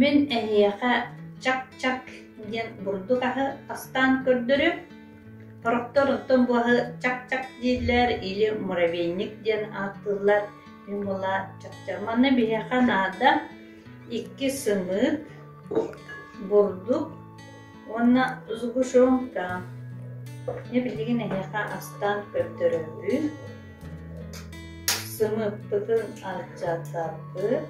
Мин эһиэхэ «чак-чак» диэн бурдук аһы тастаан көрдөрү, торохтор оттон бу аһы «чак-чак» дииллэр или муравейник диэн ааттыыллар. Мин буола чачча. Манна биһиэхэ наада икки сымыык, бурдук, уонна сгущенка мне билигин эһиэхэ астаан көрдөрөбүт сымыытпытын алдьатабыт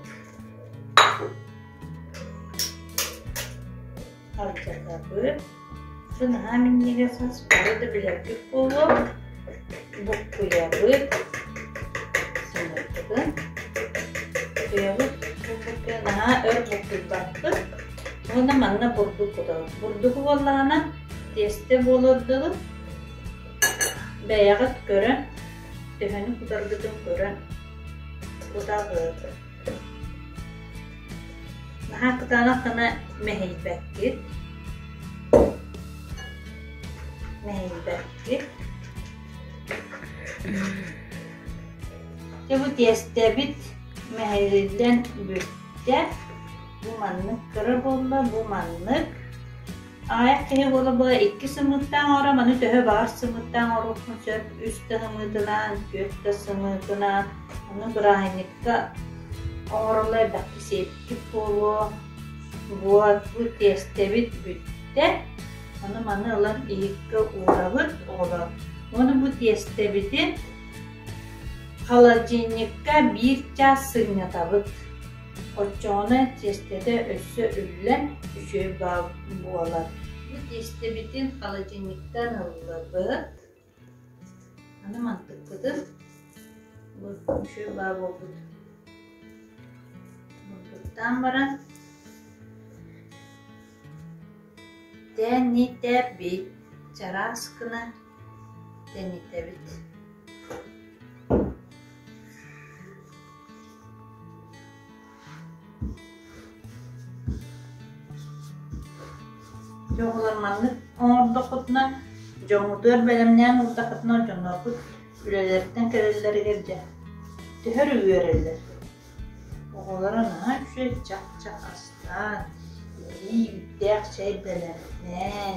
алдьатабыт сы наһаа минньигэс хас бары да билэргит буолуо буккуйабыт, сунулбутун, утуйабыт, буккуйа наһаа өр буккуйбаппыт. Уонна манна бурдук кутабыт. Бурдук буоллаҕына тесте буолар дылы бэйэҕит көрөн, төһөнү кутаргытын көрөн кутабыт. Наһаа кытаанах гына мэһийбэккит. Мэһийбэт. Чубу тиэстэбит мэһэйиллэн бүттэ. Бу маннык кыра буолла, бу маннык. Аҕыйах киһи буола-буола икки сымыыттаан оҥоро, маны төһө баҕар сымыыттаан оҥоруохпун сөп. Үс да сымыытынаан, түөрт да сымыытынаан, аны бырааһынньыкка оҥороллор элбэхтик сиэттик буолуо. Вот, бу тиэстэбит бүттэ. Ону-маны ылан иһиккэ уурабыт оҕолоор. Ону бу тиэстэбитин холодильникка биир чаас сынньатабыт. Оччоҕуна тиэстэтэ өссө үллэн, үчүгэй буолар. Бу тиэстэбитин холодильниктан ыллыбыт. Аны мантыкпытын үчүгэй баа буолбут мылтыктаан баран тээн нииттээппи чараас гына тэнитэбит Дьоҕулар маннык оҥордоххутуна, дьоҥҥутугар бэлэмнээн ылдаххытына, дьонноргут үлэлэриттэн кэлэллэригэр дьэ төһөр үөрэллэр. Оҕолоро наһаа үчүгэй чах-чах астаан, эбии үүттээх чэй бэлэмнээн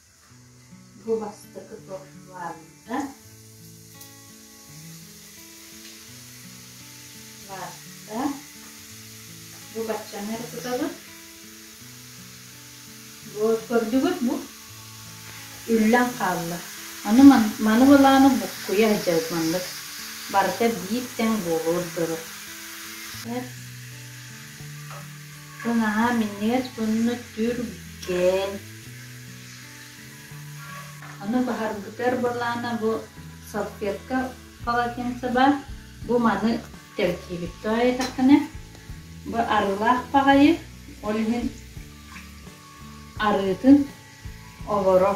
Бу бастакы торфлаабыта лаатта. Бу баччаны эркутабыт. Бу көрдүгүт бу? Үллэн хаалла. Аны маны былааны буккуйа сылдьабыт маннык. Барыта биир тэҥ буолуор дылы. Наһаа минньигэс, сонно түргэн. Ону баһарбытар буоллаана бу салфетка полотенцеба бу маны тэртиибит тоойотаххына бу арылаах паҕайы ол иһин арыытын олоро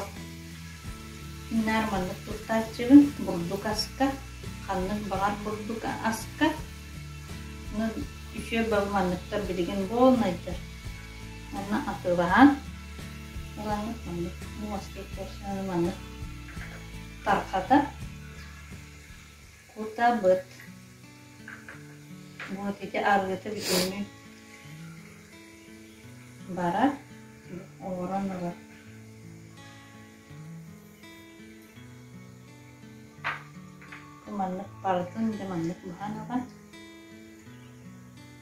наар маннык туттааччыбын бурдук аска ханнык баҕар бурдук аска нын үтүө бал манныктар билигин буолнайдар Манна атыылаһан ылаҥҥыт маннык муоскит көрсөҕүн маннык тархата кутабыт вот ити арыыта бүтүннүү барар оҥорон ылар маннык бардын да маннык быһан ылан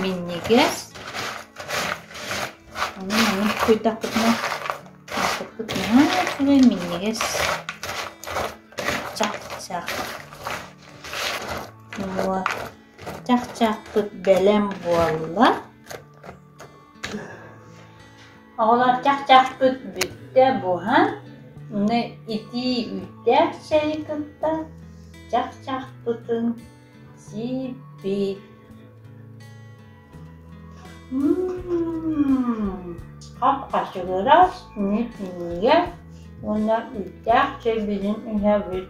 Минньигэс. Аны маннык тутуйдахпытына ааспыппыт наһаа үчүгэй минньигэс. Чах-чах. Нуо чах-чахпыт бэлэм буолла. Оҕолор чах-чахпыт бүттэ буһан, аны итии үүттээх чэйи кытта чах-чахпытын Сииппи хапхачыгырас ньиһиньигэ уонна үүттээх чэйбинин иһэбит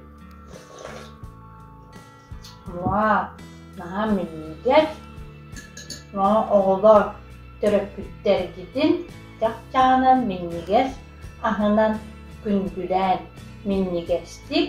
муа наһаа минньигэс мама оҕолоор төрөппүттэргитин чахчаанан минньигэс аһынан күндүлээн минньигэстик